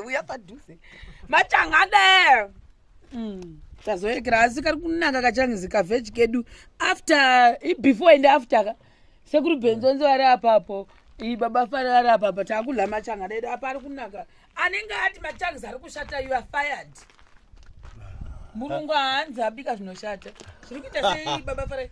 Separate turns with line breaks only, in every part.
uya padhuze machanga de mm. tazoekera asi kari kunaka kachangizi kaveji kedu after before and after ka sekuri benzonzi vari apapo ibaba fari vari apapo taakudla machanga dedu apa ari kunaka anenge ati machangizi ari kushata you are fired mulungu haanzi abika zvinoshata zviri kuita sei baba fari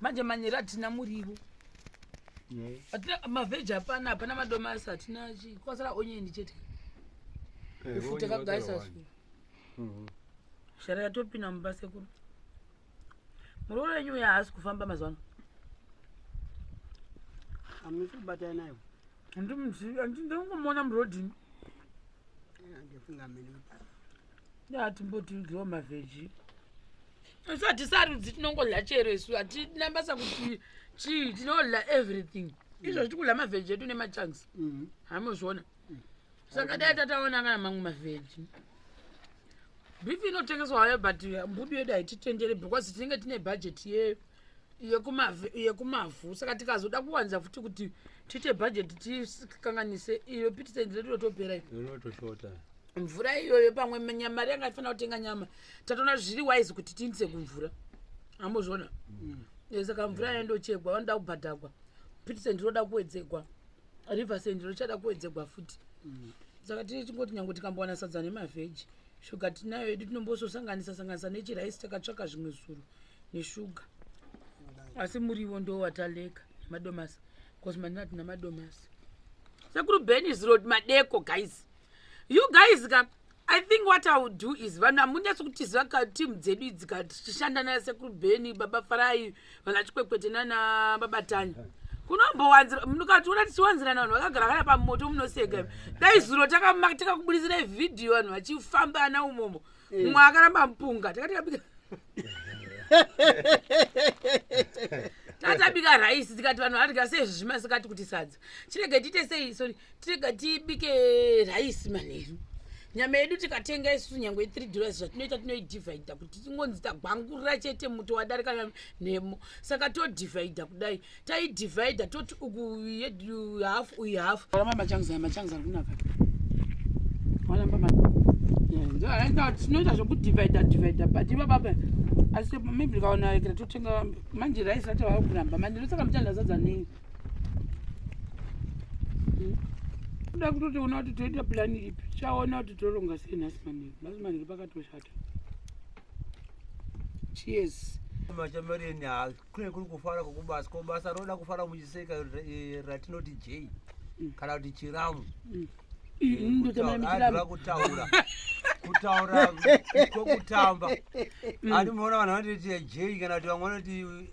manje manyere
hatina murivo hatina mavheji hapana hapana madomasi hatina chii kwasara onyendi chete Eh, ufu vonye takagaisa vatara su Mhm. shara yatopinda mumba sekuru muruo wenyu uya haasi kufamba mazuva ano
hamusi kubatana nayo handimuzivi handingomuona
murodhini
andifunga mene kuti atimbotiudyiwa
mavheji isu hatisarudzi tinongodla chero isu hatina basa kuti chii tinodla everything izvo zvitikudla mavheji edu nemachangs mhm. hamozviona mm. saka dai tataona kana mamwe mavheji bifi inotengeswa hayo but mbudu yedu haititendere because tinenge tine bhajeti yedu yekumavhu saka tikazoda kuwanza futi kuti tiite bhajeti tikanganise iyo pitisenti redu rotopera irotosvota
mvura
iyoyo pamwe mari yanga tifanira kutenga nyama tatoona zviri wise kuti tiindise kumvura amuzviona mm. eh, saka mvura yayo ndochegwa vanoda kubhadhagwa pitisenti roda kuwedzegwa riversendi rochada kuwedzegwa futi mm. saka tiri tingoti nyange tikambowana sadza nemavheji shuga tinayo yedu tinombososanganisa sanganisa nechiraisi takatsvaka zvimwe zuro neshuga asi muriwo ndo wataleka madomasi bcause mani hatina madomasi sekuru benis road madeko guys you guys ka i think what i would do is vanhu hamunetsi kutiziva ka team dzedu idzi ka tichishanda na sekuru beni baba farai vana chikwekwete nana baba tanya yeah kunombowanzira mukationa tichiwanzirana vanhu vakagara kana pamoto munoseka dai zuro takakubuditsirai vhidhiyo vanhu vachifambana umomo mm. eh. mumwe akaramba mupunga takati kabika tatabika raisi tikati vanhu vadya sei zvimasikati kuti sadza tirege tiite sei sori tirege tibike raisi manheru nyama yedu tikatenga isu nyange three dollars zvatinoita tinoidivhaidha kuti tingonzi tagwangurira chete muto wadarika nhemo saka todivhaidha kudai taidivhaidha toti uku hafu uyu hafu ramba machangiza machangiza ari kunaka waramba tinoita zvekudivhaidha divhaidha but ivababa asi maybe ndikaona ikira totenga manje raisi rati vava kuramba manje ndosaka muchanda zadza nei hmm? kuda kutotiona kuti toita plani ipi chaona kuti toronga sei nhasi manheru nhasi manheru pakatoshata cheers machamareni
hazi kune kuri kufara kwokubasa ko basa roda kufara muchiseka eh, ratinoti jei mm. kana kuti chiramu mm. eh, mm, ndotomaimitiraa kutaura kutaura kwokutamba ani muona vanhu vanotiti jei kana kuti vamwe vanoti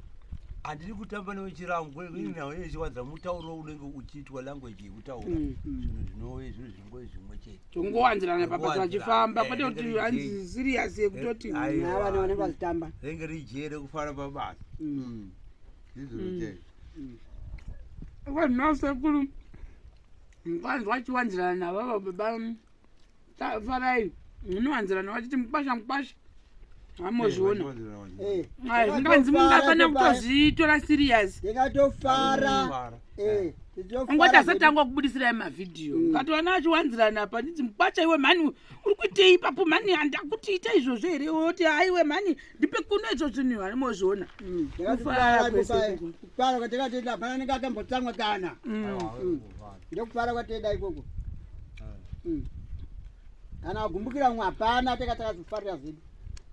handiri kutamba newe chiramu kunechiwadza mutauro unenge uchiitwa language yekutaura zvinhu zvinove zvinhu zvingoe zvimwe chete tongowanzirana pabasa
vachifamba kwete kuti hanzi serious yekutoti vana vanenge
vachitamba renge rijee
rekufara pabasa mm.
mm. vanhuasekuru nganzwa chiwanzirana navava baba farai munowanzirana vachiti mukwasha mukwasha amozviona Eh, Ah, zvinganzi munhu afana kutozvitora serious ndikatofara
Eh, nditofara
angoti asati angu akubudisirai mavhidhiyo Mm. ukatoona achiwanzirana apa nditi mukwacha iwe mhani uri kuitei ipapo mhani handakuti ita izvozvo here oti haiwe mhani ndipe kuno izvo zvinhu harimozviona Mm, Kufara ndakatofara kwese kupa-
uku. kupara kwatakatoita hapana nenge akambotsamwa kana Mm. ndokufara kwateda ikoko hmm. kana agumbukira mumwe hapana teka takazofarira zvedu